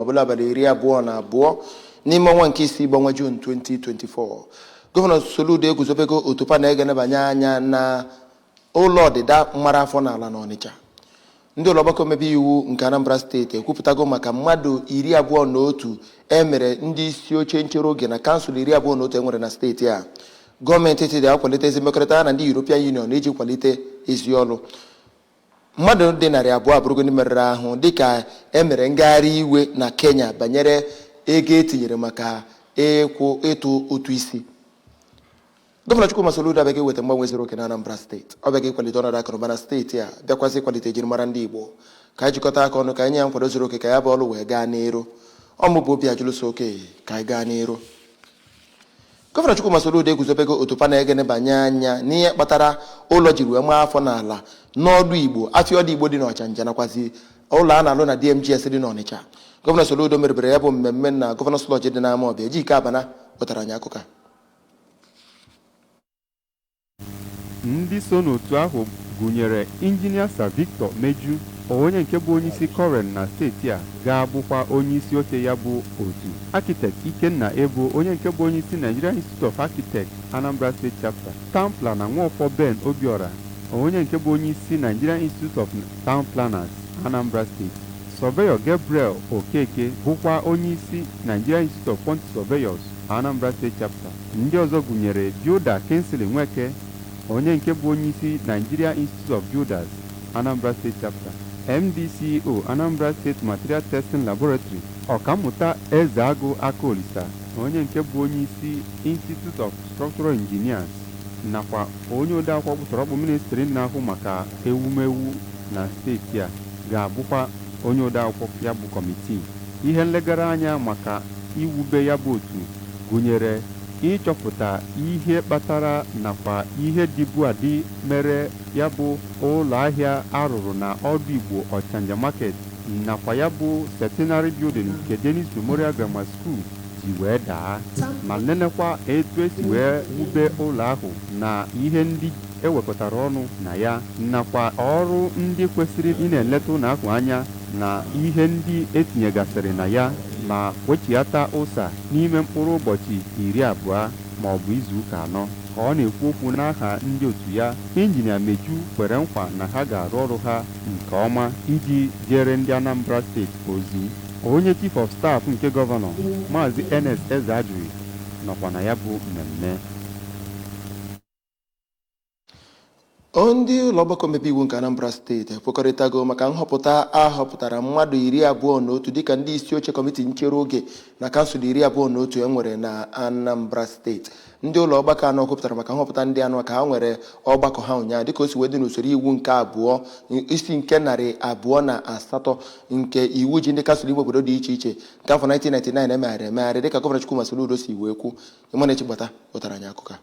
ọbụla abalị iri abụọ na abụọ n'ime ọnwa nke isii bụ ọnwa Jun 2024 gọvanọ Soludo eguzobego otu panel ga-enebanye anya na ụlọ ọdịda mara afọ n'ala n'Ọnịcha ndị ụlọ ọgbakọ omebe iwu nke Anambra steeti ekwupụtago maka mmadụ iri abụọ na otu emere ndị isi oche nchere oge na kansụl iri abụọ na otu enwere na steeti a gọọmenti etiti akwalite ezi mmekọrịta ha na ndị European Union iji kwalite ezi ọrụ mmadụ dị narị abụọ abụrụgo ndị merụrụ ahụ dịka e mere ngagharị iwe na kenya banyere ego etinyere maka ịtụ ụtụ isi gọvanọ chukwuma soludo abịago iweta mgbanwe zuru oke na anambra steeti ọ bịago ịkwalite ọnọdụ akụnụba na steeti a bịakwazị ịkwalite ejirimara ndị igbo ka anyị jikọta aka ọnụ ka anyị nye ya nkwado zuru oke ka ya bụ ọrụ wee gaa n'iru ọ mụ bụ obiajụlụ so oke ka anyị gaa n'iru Gọvanọ Chukwuma Soludo eguzobego otu panel ga-enebanye anya n'ihe kpatara ụlọ jiri wee maa afọ n'ala n'ọdụ Igbo, afịa ọdụ Igbo dị n'Ọchanja nakwazi ụlọ a na-alụ na DMGS dị n'Ọnịcha. Gọvanọ Soludo merubere ya bụ mmemme na Gọvanọs Lọọjị dị n'Amawbịa. Ejike Abana wetara anyị akụkọ a. ndị so n'otu ahụ gụnyere injinia Sir Victor Meju onye nke bụ onyeisi COREN na steeti a ga-abụkwa onyeisi oche ya bụ otu Architect Ikenna Ebo onye nke bụ onyeisi Nigerian Institute of Architects Anambra State Chapter Town Planner Nwọfọ Ben Obiora onye nke bụ onyeisi Nigerian Institute of Town Planners Anambra State Surveyor Gabriel Okeke bụkwa onyeisi Nigerian Institute of Quantity Surveyors Anambra State Chapter Ndị ọzọ gụnyere Builder Kingsley Nweke, onye nke bụ onyeisi Nigeria Institute of Builders, Anambra State Chapter, MD CEO, Anambra State Material Testing Laboratory, Ọkammụta Ezeagụ Akaolisa, onye nke bụ onyeisi Institute of Structural Engineers, nakwa onye odeakwụkwọ ọkpụtọrọkpụ ministri na-ahụ maka ewumewu na steeti a ga-abụkwa onye odeakwụkwọ ya bụ kọmitii. Ihe nlegara anya maka iwube ya bụ otu gụnyere ịchọpụta ihe kpatara nakwa ihe dịbu adị mere ya bụ ụlọahịa a rụrụ na Ọdụ Igbo Ọchanja Market nakwa ya bụ Centenary Building nke Dennis Memorial Grammar School ji wee daa ma nenekwa etu esi wee wube ụlọ ahụ na ihe ndị ewekọtara ọnụ na ya nakwa ọrụ ndị kwesịrị ịna-eleta ụlọ ahụ anya na ihe ndị etinyegasịrị na ya ma wechiata ụsa n'ime mkpụrụ ụbọchị iri abụọ ma ọ bụ izu ụka anọ ka ọ na-ekwu okwu n'aha ndị otu ya injinia Meju kwere nkwa na ha ga-arụ ọrụ ha nke ọma iji jeere ndị Anambra steeti ozi onye chief of staff nke gọvanọ maazị Ernest Ezeajughi nọkwa na ya bụ mmemme Ndị ụlọ ọgbakọ omebe iwu nke Anambra steeti ekwekọrịtago maka nhọpụta a họpụtara mmadụ iri abụọ na otu dịka ndị isi oche kọmiti nchere oge na kansụl iri abụọ na otu e nwere na Anambra steeti ndị ụlọ ọgbakọ ahụ kwupụtara maka nhọpụta ndị ahụ ka ha nwere ọgbakọ ha ụnyaahụ dịka o si wee dị n'usoro iwu nke abụọ isi nke narị abụọ na asatọ nke iwu ji ndị kansụl ime obodo dị iche iche nke afọ 1999 e megharịrị emegharị dịka gọvanọ Chukwuma Soludo si wee kwu Emmanuel Chigbata wetara anyị akụkọ a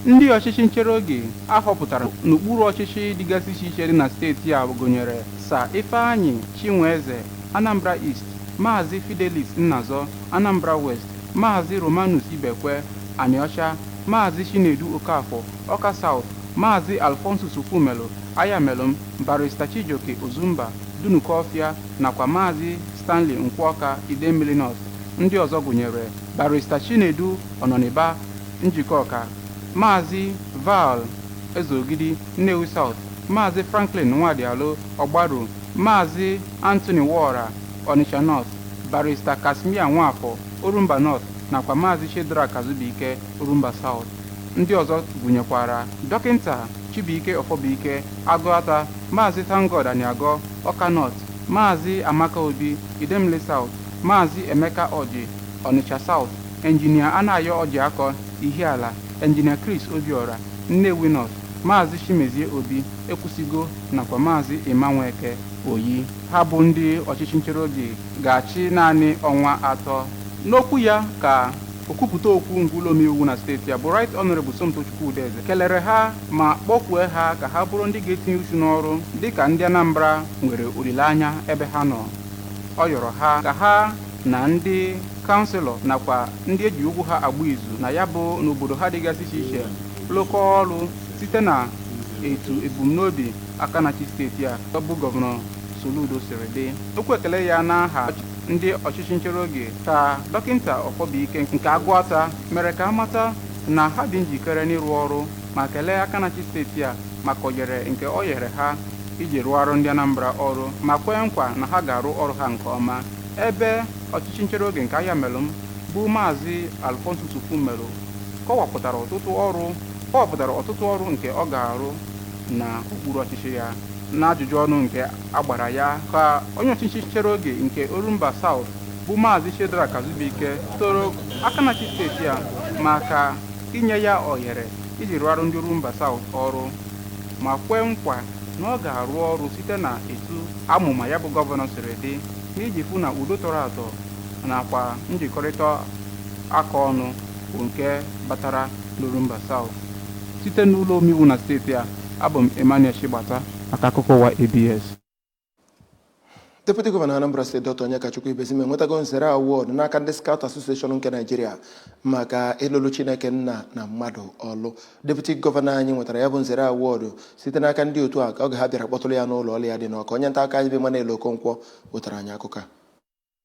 ndị ọchịchị nchere oge a họpụtara n'okpuru ọchịchị dịgasị iche iche dị na steeti a gụnyere sa ifeanyi chinweze anambra east maazị fidelis nnazọ anambra west maazị romanus ibekwe anịọcha maazị chinedu okafọ ọka south maazị alfonsus ofumelu ayamelụm barista chijioke ozumba dunukọfịa nakwa maazị stanley nkwọka idemmili north ndị ọzọ gụnyere barista Chinedu Ọnọniba Njikọka Maazị Val Ezeogidi Nnewi South Maazị Franklin Nwadialụ Ọgbaru Maazị Anthony Nwaora Onitsha North barista Casmir Nwafọ Orumba North nakwa Maazị Shedrack Azubuike Orumba South ndị ọzọ gụnyekwara dọkịnta Chibuike Ọfọbụike Agụata Maazị ThankGod Aniagọ Ọka North Maazị Amaka Obi Idemili South Maazị Emeka Ọjị, Ọnịcha South, Engineer Anayo Ọjịakọ, Ihiala, Engineer Chris Obiora, Nnewi North, Maazị Chimezie Obi, Ekwusigo nakwa Maazị Emma Nweke, Oyi. Ha bụ ndị ọchịchị nchereoge ga-achị naanị ọnwa atọ. N'okwu ya ka okwupụta okwu nke ụlọomeiwu na steeti a bụ Right Honourable Somtochukwu Udeze kelere ha ma kpọkue ha ka ha bụrụ ndị ga-etinye uchu n'ọrụ dịka ndị Anambra nwere olileanya ebe ha nọ. ọ yọrọ ha ka ha na ndị kanselọ nakwa ndị e ji okwu ha agba izu na ya bụ n'obodo ha dịgasị iche iche lụkọọ ọrụ site na etu ebumnobi aka na-achị steeti a ọ bụ gọvanọ Soludo siri dị okwu ekele ya n'aha ndị ọchịchị nchere oge ka dọkịnta Ọfọbụike nke agụata mere ka a mata na ha dị njikere n'ịrụ ọrụ ma kelee aka na-achị steeti a maka oyere nke o nyere ha iji rụọrọ ndị Anambra ọrụ ma kwee nkwa na ha ga-arụ ọrụ ha nke ọma ebe ọchịchị nchere oge nke Ayamelụm bụ maazị Alfonsus Ofumelu kọwapụtara ọtụtụ ọrụ nke ọ ga-arụ na okpuru ọchịchị ya n'ajụjụ ọnụ nke a gbara ya ka onye ọchịchị nchere oge nke Orumba South bụ maazị Shedrack Azubuike toro aka na-achị steeti a maka inye ya ohere iji rụọrọ ndị Orumba South ọrụ ma kwee nkwa na ọ ga-arụ ọrụ site na etu amụma ya bụ gọvanọ siri dị n'iji fụ na udo tọrọ atọ nakwa njikọrịta aka ọnụ bụ nke batara n'Orumba South site n'ụlọ omeiwu na steeti a abụ m Emmanuel Chigbata maka akụkọ ụwa ABS Deputy Gọvanọ Anambra Steeti Dr. Onyekachukwu Ibezim enwetago nzere award n'aka ndị Scout Association nke Nigeria maka ịlụlụ Chineke nna na mmadụ ọlụ. Deputy Gọvanọ anyị nwetara ya bụ nzere award site n'aka ndị otu a ka oge ha bịara kpọtụrụ ya n'ụlọ ọrụ ya dị n'Ọka. Onye nta akụkọ anyị bụ Emmanuel Okonkwo wetara anyị akụkọ a.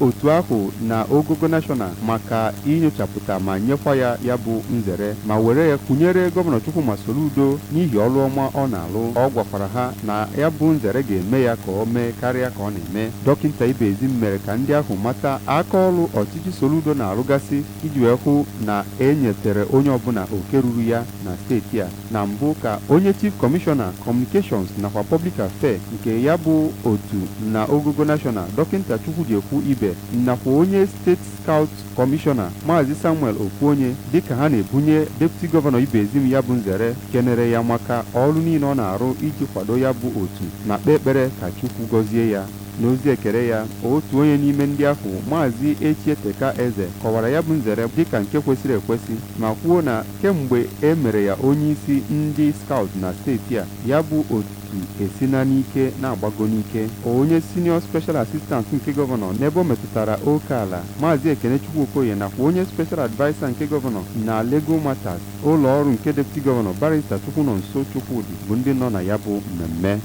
otu ahụ na ogogo nashọna maka inyochapụta ma nyekwa ya ya bụ nzere ma were ya kwunyere Gọvanọ Chukwuma Soludo n'ihi ọrụ ọma ọ na-alụ. Ọ gwakwara ha na ya bụ nzere ga-eme ya ka o mee karịa ka ọ na-eme. Dọkịnta Ibezim mere ka ndị ahụ mata aka ọrụ ọchịchị Soludo na-arụgasị iji wee hụ na e nyetere onye ọbụla oke ruru ya na steeti a. Na mbụ ka onye Chief Commissioner, Communications nakwa Public Affair nke ya bụ otu na ogogo National, Dọkịnta Chukwujekwu Ibe nakwa onye State Scout Commissioner, Maazị Samuel Okwuonye dịka ha na-ebunye Deputy Governor Ibezim ya bụ nzere kenere ya maka ọrụ niile ọ na-arụ iji kwado ya bụ otu ma kpee ekpere ka Chukwu gọzie ya. N'ozi ekele ya, otu onye n'ime ndị ahụ, Maazị Echieteka Eze kọwara ya bụ nzere dịka nke kwesịrị ekwesị ma kwuo na Kemgbe e mere ya onyeisi ndị Scout na steeti a, ya bụ otu esina n'ike na-agbago n'ike. Onye Senior Special Assistant nke Gọvanọ n'ebe o metụtara oke ala, Maazị Ekenechukwu Okoye nakwa onye Special Adviser nke Gọvanọ na Legal Matters, ụlọ ọrụ nke Deputy Gọvanọ, Barrister Chukwunonso Chukwudi bụ ndị nọ na ya bụ mmemme.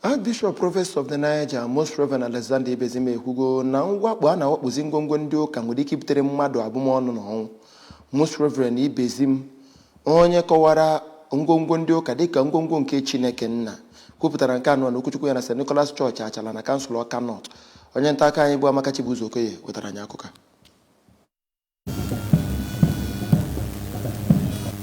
Archbishop Province of the Niger Most Reverend Alexander Ibezim ekwugo na mwakpo a na-awakpozi ngwongwo ndị ụka nwere ike ibutere mmadụ abụmọnụ na ọnwụ Most Reverend Ibezim onye kọwara ngwongwo ndị ụka dịka ngwongwo nke Chineke nna kwupụtara nke a n'okwuchukwu ya na St. Nicholas Church Achala na kansụl Ọka North onye nta akụkọ anyị bụ Amaka Chibuzo Okoye wetara anyị akụkọ a.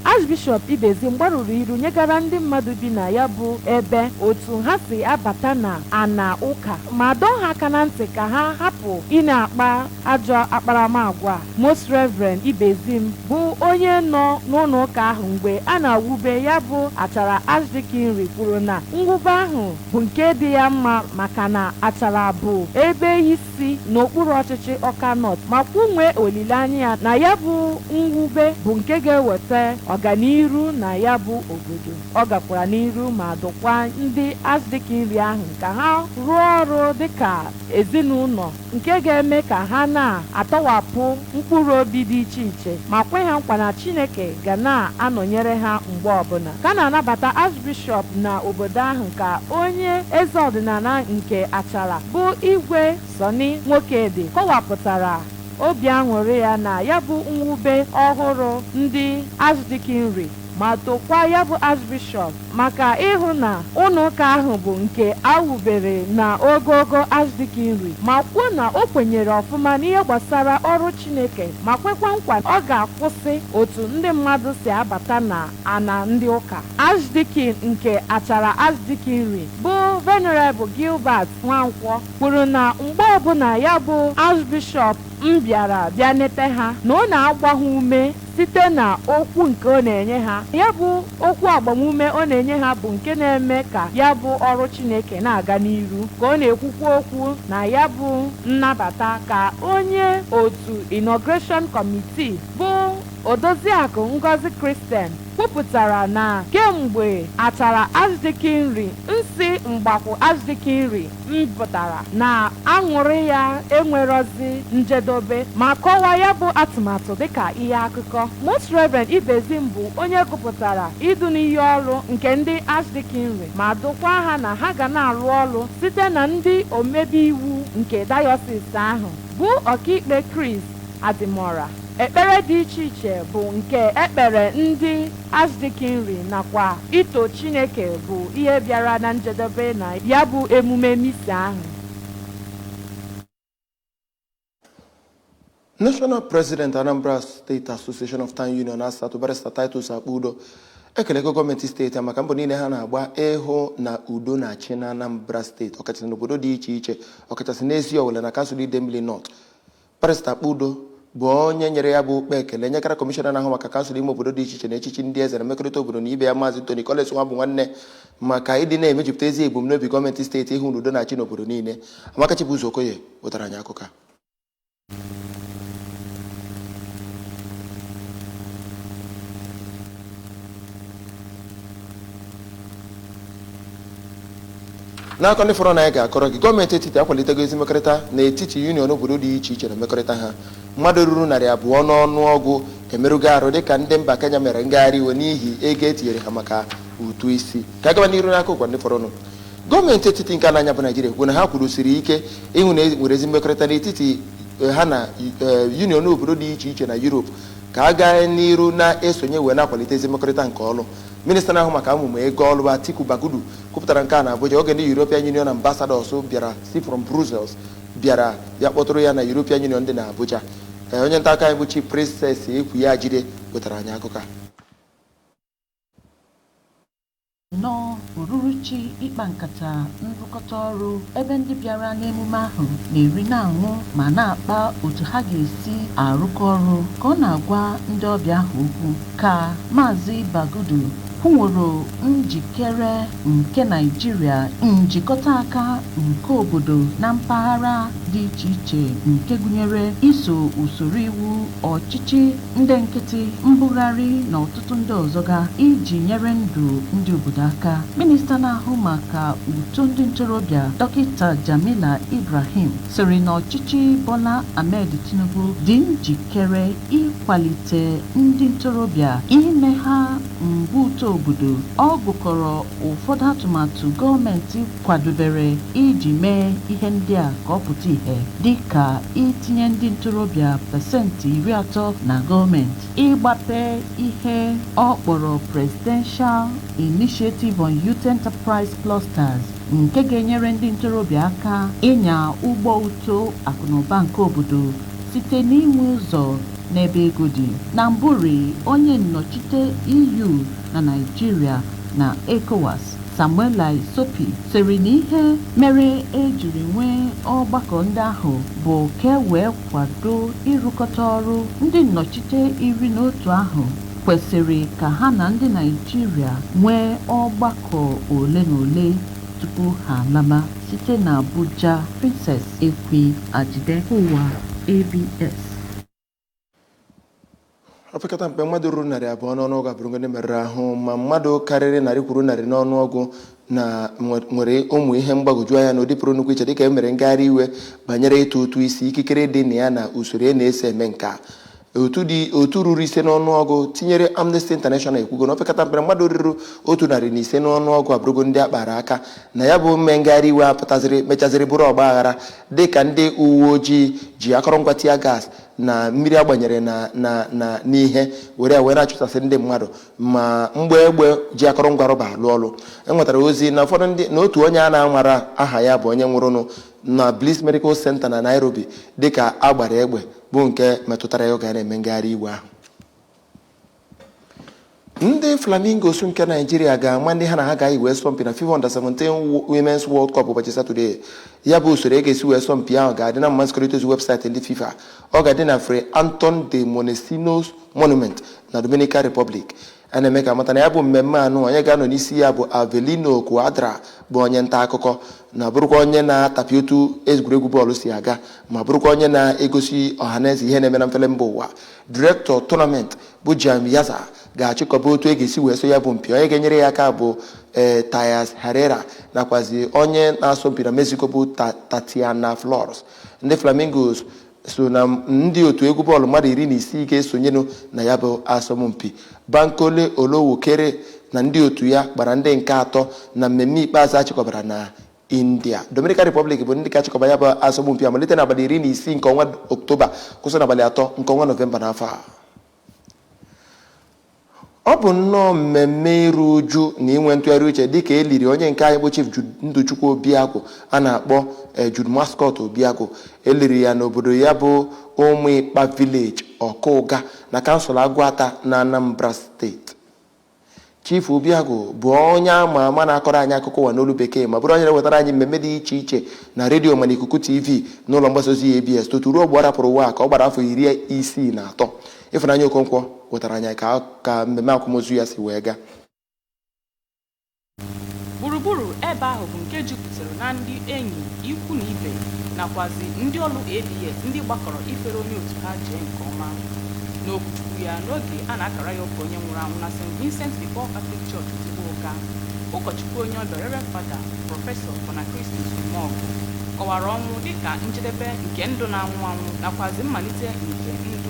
Archbishop Ibezim gbarụrụ iru nyegara ndị mmadụ bi na ya bụ ebe otu ha si abata na ana ụka ma dọọ ha aka na ntị ka ha hapụ ị na-akpa ajọ akparamagwa a. Most Reverend Ibezim bụ onye nọ n'ụlọ ụka ahụ mgbe a na-awube ya bụ Achara Archdeaconry kwuru na mwube ahụ bụ nke dị ya mma maka na Achara bụ ebe isi isi n'okpuru ọchịchị Ọka North ma kwunwee olileanya ya na ya bụ mwube bụ nke ga-eweta ọganiru na ya bụ obodo. Ọ gakwara n'iru ma dụkwa ndị Archdeaconry ahụ ka ha rụọ ọrụ dịka ezinụlọ nke ga-eme ka ha na-atọwapụ mkpụrụ obi dị iche iche ma kwe ha nkwa na Chineke ga na-anọnyere ha mgbe ọbụla. Ka a na-anabata Archbishop na obodo ahụ ka onye eze ọdịnala nke Achala bụ Igwe Sunny Nwokedi kọwapụtara obi aṅụrị ya na ya bụ mwube ọhụrụ ndị Archdeaconry. ma tokwa ya bụ Archbishop maka ịhụ na ụlọụka ahụ bụ nke a wubere na ogogo Archdeaconry ma kwuo na o kwenyere ọfụma n'ihe gbasara ọrụ Chineke ma kwekwa nkwa ọ ga-akwụsị otu ndị mmadụ si abata na ana ndị ụka Archdeacon nke Achara Archdeaconry bụ Venerable Gilbert Nwankwọ kwuru na mgbe ọbụla ya bụ Archbishop mbịara bịa nete ha na ọ na-agba ha ume site na okwu nke ọ na-enye ha. Ya bụ okwu agbamume ọ na-enye ha bụ nke na-eme ka ya bụ ọrụ Chineke na-aga n'iru, ka ọ na-ekwukwa okwu na ya bụ nnabata ka onye otu Inauguration Committee bụ Odoziakụ Ngozi Christian kwupụtara na kemgbe Achara Archdeaconry nsi Mgbakwu Archdeaconry mpụtara na aṅụrị ya enwerọzi njedobe ma kọwaa ya bụ atụmatụ dịka ihe akụkọ. Most Reverend Ibezim bụ onye gụpụtara idu n'iyi ọrụ nke ndị Archdeaconry ma dụkwaa ha na ha ga na-arụ ọrụ site na ndị omebe iwu nke dayọsis ahụ bụ ọkaikpe Chris Adimora. Ekpere dị iche iche bụ nke e kpere ndị Archdeaconry nakwa ito Chineke bụ ihe bịara na njedebe na ya bụ emume Misa ahụ. National President Anambra State Association of Town Union ASATU Barrister Titus Akpudo ekelego gọọmenti steeti maka mbọ niile ha na-agba ịhụ na udo na-achị na Anambra steeti ọkachasị n'obodo dị iche iche ọkachasị n'Eziowelle na kansụl Idemili North Barrister Akpudo bụ onye nyere ya bụ okpe ekele nyekara kọmishọna na-ahụ maka kansụl ime obodo dị iche iche na echichi ndị eze na mmekọrịta obodo na ibe ya maazị Tony Collins Nwabunwanne maka ịdị na-emejupụta ezi ebumnobi gọọmenti steeti ịhụ na udo na-achị n'obodo niile Amaka Chibuzor Okoye wetara anyị akụkọ a n'akụkọ ndị fọrọ na anyị ga-akọrọ gị gọọmenti etiti akwalitego ezi mmekọrịta n'etiti yuniọn obodo dị iche iche na mmekọrịta ha mmadụ ruru narị abụọ n'ọnụọgụ emerụgo arụ dịka ndị mba Kenya mere ngagharị iwe n'ihi ego e tinyere ha maka ụtụ isi ka a gaba n'iru n'akụkọ ụwa ndị fọrọnụ gọọmenti etiti nke ana anyị bụ Naijiria kwuo na ha kwụrụsiri ike ịhụ na e nwere ezi mmekọrịta n'etiti eh, ha na eh, yuniọn obodo dị iche iche na Yurop ka a gaa n'iru na-esonye wee na-akwalite ezi mmekọrịta nke ọrụ Minista na-ahụ maka amụma ego ọlụ Atiku Bagudu kwupụtara nke a na Abuja oge ndị European Union ambassadors bịara si from Brussels bịara ya kpọtụrụ ya na European Union dị na Abuja. Ee, onye nta aka anyị bụ Chief Princess Ekwi Ajide wetara anyị akụkọ a. nnọọ ururuchi ịkpa nkata nrụkọta ọrụ ebe ndị bịara n'emume ahụ na-eri na-aṅụ ma na-akpa otu ha ga-esi arụkọ ọrụ ka ọ na-agwa ndị ọbịa ahụ okwu Ka Maazị Bagudu kwuworo njikere nke Naịjirịa, njikọta aka nke obodo na mpaghara dị iche iche nke gụnyere iso usoro iwu, ọchịchị ndị nkịtị, mbugharị na ọtụtụ ndị ọzọ ga iji nyere ndụ ndị obodo aka. Minista na-ahụ maka uto ndị ntorobịa, Dọkịta Jamila Ibrahim sịrị na ọchịchị Bola Ahmed Tinubu dị nji kere ịkwalite ndị ntorobịa ime ha mgbe uto obodo ọ gụkọrọ ụfọdụ atụmatụ gọọmenti kwadobere iji mee ihe ndị a ka ọ pụta ihe dịka itinye ndị ntorobịa pasentị iri atọ na gọọmenti ịgbape ihe ọ kpọrọ Presidential Initiative on Youth Enterprise Clusters nke ga-enyere ndị ntorobịa aka ịnya ụgbọ uto akụnụba nke obodo Site n'inwe ụzọ n'ebe ego dị, na mbụrị onye nnọchite EU na Naịjirịa na Ecowas, Samuela Isopi, sịrị na ihe mere e jiri nwee ọgbakọ ndị ahụ bụ ka e wee kwado ịrụkọta ọrụ ndị nnọchite iri na otu ahụ kwesịrị ka ha na ndị Naịjirịa nwee ọgbakọ ole na ole tupu ha alaba. Site n'Abuja, Princess Ekwi Ajide, Ụwa ABS. opekata mpe mmadụ ruru narị abụọ n'ọnụọgụ abụrụgo ndị merụrụ ahụ ma mmadụ karịrị narị kwuru narị n'ọnụọgụ na nwe- nwere ụmụ ihe mgbagwoju anya na ụdị pụrụ nnukwu iche dịka e mere ngagharị iwe banyere ịtụ ụtụ isi ikikere dị na ya na usoro e na-esi eme nke a otu dị otu ruru ise n'ọnụọgụ tinyere amnesty international ekwugo na opekata mpe mmadụ ruru otu narị na ise n'ọnụọgụ abụrụgo ndị a kpara aka na ya bụ mme ngagharị iwe apụtaziri mechaziri bụrụ ọgba aghara dị ka ndị uwe ojii ji akọrọngwa tia gas na mmiri a gbanyere na na na n'ihe were wee na-achụsasị ndị mmadụ ma mgbọ egbe ji akọrọngwa rọba alụ ọlụ e nwetara ozi na ụfọdụ ndị na otu onye a na-amarọ aha ya bụ onye nwụrụnụ na Bliss Medical Center na Nairobi dịka a gbara egbe bụ nke metụtara ya oge a na-eme ngagharị iwe ahụ ndị flamingos nke naijiria ga-ama ndị ha na ha ga-eyi wee sọmpi na fifa under 17 women's world cup ụbọchị satọde ya bụ usoro e ga-esi wee sọmpi ahụ ga-adị n'ama nzikọrịta ozi webụsaịtị ndị fifa ọ ga-adị na Fray Anton de Montesinos monument na dominican republic a na-eme ka a mata na ya bụ mmemme anụ onye ga-anọ n'isi ya bụ avelino cuadra bụ onye nta akụkọ na bụrụkwa onye na-atapịa otu egwuregwu bọọlụ si aga ma bụrụkwa onye na-egosi ọhaneze ihe na-eme na mfele mba ụwa director tournament bụ jaime yarza ga-achịkọba otu a ga-esi wee sọọ ya bụ mpi onye ga-enyere ya aka bụ ee thais herrera nakwazi onye na-asọ mpi na mexico bụ tatiana flores ndị flamingos so na ndị otu egwu bọọlụ mmadụ iri na isii ga-esonyenụ na ya bụ asọmpi Bankole Olowokere na ndị otu ya gbara ndị nke atọ na mmemme ikpeazụ a chịkọbara na India Dominican Republic bụ ndị ga-achịkọba ya bụ asọmpi a malite n'abalị iri na isii nke ọnwa Oktoba kwụsị n'abalị atọ nke ọnwa Nọvemba n'afọ a Ọ bụ nnọọ mmemme iru uju na inwe ntụgharị uche dịka e liri onye nke anyị bụ Chief Jude Ndụchukwu Obiagu a na-akpọ eh, Jude Mascot Obiagu. E liri ya n'obodo ya bụ Ụmụịkpa Village, Ọka Ụga na kansụl Agụata na Anambra steeti. Chief Obiagu bụ onye a ma ama na-akọrọ anyị akụkọ ụwa n'olu bekee ma bụrụ onye na-ewetara anyị mmemme dị iche iche na redio ma n'ikuku TV n'ụlọ mgbasa ozi ABS tutu ruo mgbe ọ rapụrụ ụwa a ka ọ gbara afọ iri isii na atọ. Ịfụnanya Okonkwo wetara anyị ka mmemme akwamozu ya si wee gaa. Gburugburu ebe ahụ bụ nke jupụtara na ndị enyi, ikwu na ibe nakwazi ndị ọrụ ABS ndị gbakọrọ ifere onye otu ha jee nke ọma. N'okwuchukwu ya n'oge a na-akara ya ụka onye nwụrụ anwụ na St. Vincent de Paul Catholic Church Ozugbo Ụga, ụkọchukwu onye ọbịa Reverend Fada Prọfesọ Bonachristus Umeọgụ kọwara ọnwụ dịka njedebe nke ndụ na-anwụ anwụ nakwazi mmalite nke ndụ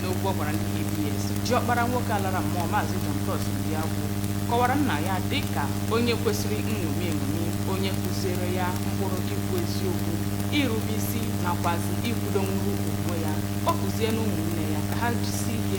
N'okwu ọ gwara ndị ABS, diọkpara nwoke a lara mmụọ Maazị John Cross Obiagwu kọwara nna ya dị ka onye kwesịrị nṅomi eṅomi, onye kụziere ya ụkpụrụ ikwu eziokwu, irube isi nakwazi ikwudonwuru onwe ya. Ọ kụziela ụmụnne ya ka ha jisie ike